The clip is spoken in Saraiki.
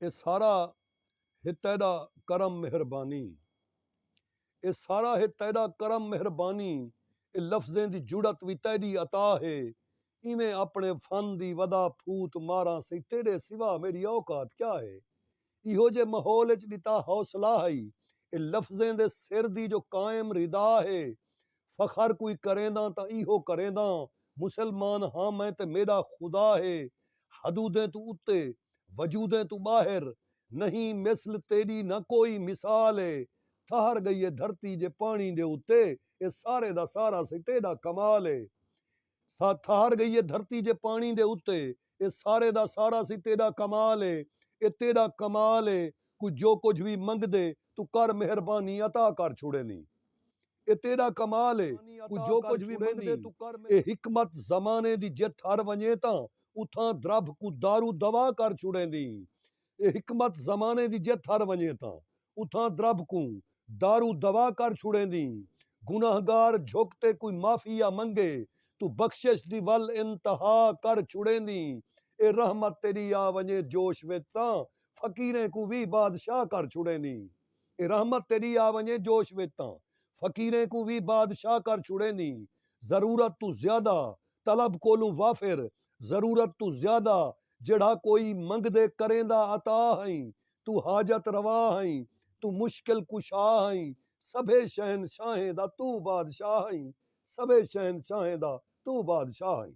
اے سارا ہے تیݙا کرم مہربانی اے سارا ہے تیݙا کرم مہربانی اے لفظیں دی جرات وی تیݙی عطا ہے ایویں آپݨے فن دی ودا پھوت ماراں سئیں تیݙے سوا میݙی اوقات کیا ہے ایہو جے ماحول اچ ݙتا حوصلہ ہئی اے لفظیں دے سر دی جو قائم ردا ہے فخر کوئی کرینداں تاں ایہو کرینداں مسلمان ہاں میں تے میݙا خدا ہے حدودیں توں اتے وجودیں توں ٻاہر نہیں مثل تیݙی نہ کوئی مثال ہے تھہر ڳئی ہے دھرتی جے پاݨی دے اتے اے سارے دا سارا سئیں تیݙا کمال ہے سا تھار گئی اے دھرتی جے پاݨی دے اتے اے سارے دا سارا سی تیݙا کمال اے اے تیݙا کمال اے کوئی جو کجھ وی منگدے توں کر مہربانی عطا کر چھوڑیندیں اے تیݙا کمال اے کوئی جو کجھ وی منگدے توں کر مہربانی اے حکمت زمانے دی جتھ ہر ونڄے تاں اتھاں دربھ کوں دارو دوا کر چھوڑیندیں اے حکمت زمانے دی جے تھر ونڄے تاں اتھاں درب کوں در و دوا کر چھوڑیندی گنہگار جھک تے کوئی معافی یا منگے توں بخشش دی ول انتہا کر چھوڑیندی اے رحمت تیݙی آ ونڄے جوش وچ تاں فقیریں کوں وی بادشاہ کر چھوڑیندی اے رحمت تیݙی آ ونڄے جوش وچ تاں فقیریں کوں وی بادشاہ کر چھوڑیندی ضرورت توں زیادہ طلب کولوں وافر ضرورت توں زیادہ جیڑھا کوئی منگدے کریندا عطا ہئیں توں حاجت روا ہئیں توں مشکل کشا ہئیں سبھے شہنشاہیں دا توں بادشاہ ہئیں سبھے شہنشاہیں دا توں بادشاہ ہئیں۔